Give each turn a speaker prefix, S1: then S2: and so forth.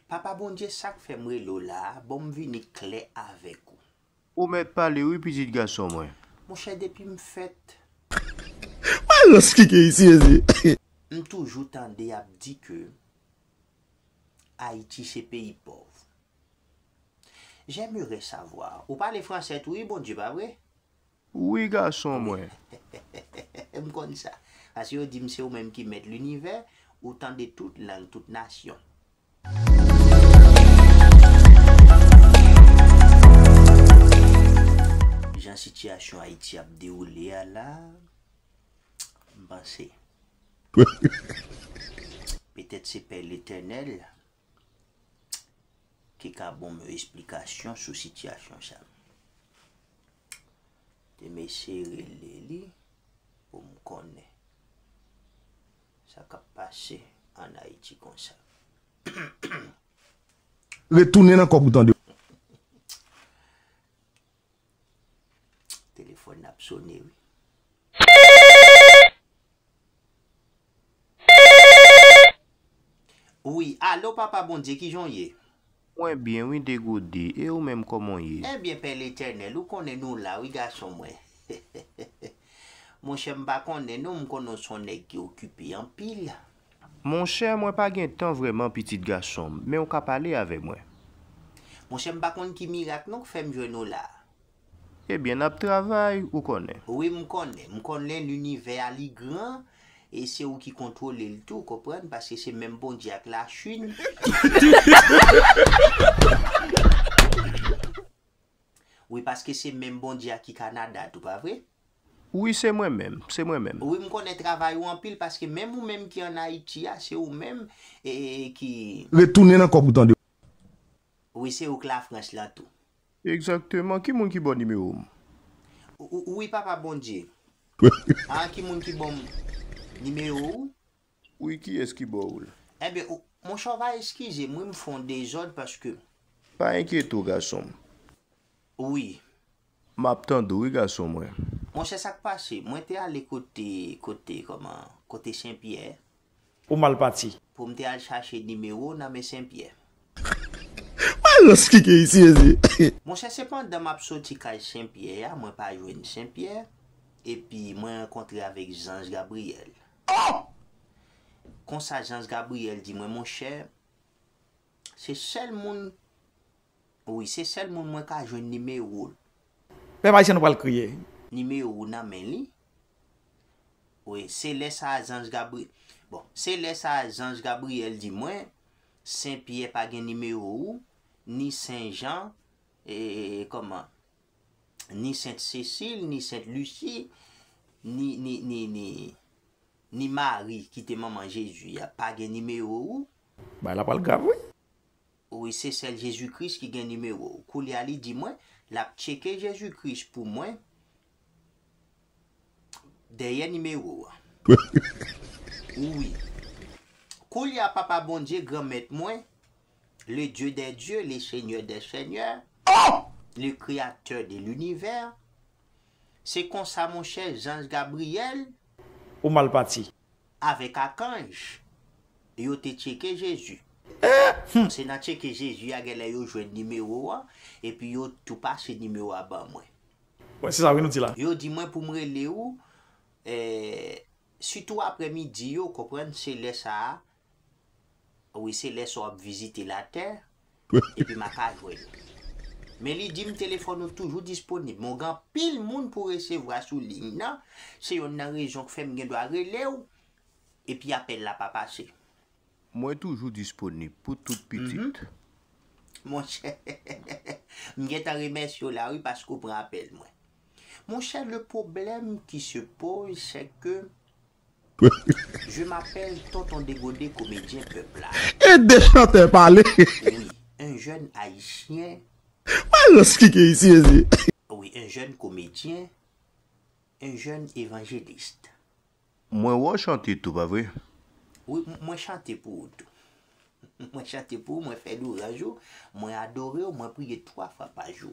S1: Papa Bondye sak fèm rele w la a bonm vini klè avèk ou. Ou mèt pale
S2: wi pitit gason mwen. Monchè depim
S1: fèt.
S3: Mwen rans ki gen isi mezye. M
S1: toujou tande yap di ke Ayiti se peyi pòv. J'aimerais savoir. Ou pale fransè tou wi Bondye pa vre? Wi
S2: gason mwen.
S1: M konn sa. Paske yo di m se ou menm ki mèt linivè, ou tande tout lang, tout nasyon. Jan sitiyasyon Ayiti ap dewoule a la, m panse. Petèt se pè Letènèl. ki ka bonm yon esplikasyon sou sitiyasyon sa. Te m eseye rele li pou m konnen sa k ap pase an Ayiti konsa.
S3: Retounen nan kòk ou tande.
S1: Telefòn ap sone wi. Wi alo papa bondye kijan w ye. Mwen byen wi
S2: degode e ou menm koman w ye. Ebyen pè letènèl ou
S1: konnen nou la wi gason mwen monchè m pa konnen non m konnen w son nèg ki okipe anpil. Monchè,
S2: mwen pa gen tan vrèman pitit gason m, men ou ka pale avè mwen. Monchè,
S1: m pa konn ki mirak non k fè m jwenn ou la a. Ebyen,
S2: n ap travay, ou konnen. Wi, m konnen. M
S1: konnen linivè a li gran, e se ou ki kontwole l tou, konprann, paske se menm Bondye ak Lachin. Wi paske se menm bondye a ki Canada tou pa vre? Wi se mwen
S2: menm, se mwen menm. Wi m konnen travay
S1: ou anpil paske menm ou menm ki an Haiti a se ou menm ki. Retounen nan kòb ou tande.
S3: Wi
S1: se ou k la France lan tou. Exactement
S2: ki moun ki baw nimewo m.
S1: Wi papa bondye. An ki moun ki banm nimewo ou. Ui
S2: kiyes ki bo ou la. Enben ou
S1: Monchè ou va eskizem wi m fon dezòd paske. Pa enkyete
S2: w gason m.
S1: Wi. Map
S2: tande w wi gason mwen. Monchè sak pase?
S1: Mwen te ale kote kote kòman kote senpyè. Ou mal
S4: pati. Pou m te al chache
S1: nimewo w nan men senpyè.
S3: Wè rans ki gen isi mesye. Monchè se pandan
S1: map soti kay senpyè a mwen pa jwenn senpyè epi mwen rankontre avèk zanj Gabriyèl. Oh! Konsa Jans Gabriel di mwen monchè se sèl moun wi se sèl moun mwen ka jwenn nimewo l. Pèp ayisyen
S4: nou pral kriye. Nimewo w nan men
S1: li wi se lè sa Jans Gabriel bon se lè sa Jans Gabriel di mwen Sen Pyè pa gen nimewo w ni Sen Jan e kòman ni Sent Sesil, ni Sent Lisi, ni, ni, ni, ni, ni Mari ki te manman Jezi a pa gen nimewo ou. Bagay la pral
S4: grav wi. Wi,
S1: se sèl Jezi Kris ki gen nimewo ou. Koulye a li di mwen, l ap tcheke Jezi Kris pou mwen dèyè nimewo a. Wi. Koulye a Papa Bondye, Granmèt mwen, Le Dieu des dieux, le Seigneur des seigneurs, le Createur de l'univers, se konsa monchè zanj Gabriel, Ou mal
S4: pati. Avèk
S1: akanj yo te tcheke Jezi. Se nan tcheke Jezi a genlè yo jwenn nimewo a, epi yo tou pase nimewo a ban mwen. Mwen se sa wi nou
S4: di la. Yo di mwen pou m rele
S1: ou, eh, sitou aprè midi yo, konprann, se lè sa a Wi se lè sa w ap vizite latè epi m a pa jwenn ou. Men li di m telefòn ou toujou disponib men w gen anpil moun pou w resevwa sou liy nan, se yonn nan rezon k fè m gendwa rele w epi apèl la pa pase. Mwen
S2: toujou disponib pou tout pitit.
S1: Monchè, m gentan remèsye w la wi paske w pran apèl mwen. Monchè le pwoblèm ki se poz sè ke Je m'appelle tonton degode komedyen pèp la. Ede chantè
S3: pale. Wi un
S1: jèn ayisyen. Wè jan
S3: skike isi mesye. Wi un
S1: jèn komedyen un jèn evangeliste. Mwen
S2: wè w chante tou pa vre. Wi
S1: mwen chante pou ou tou. Mwen chante pou ou mwen fè louranj ou mwen adore ou mwen priye 3
S2: fwa
S1: pa jou.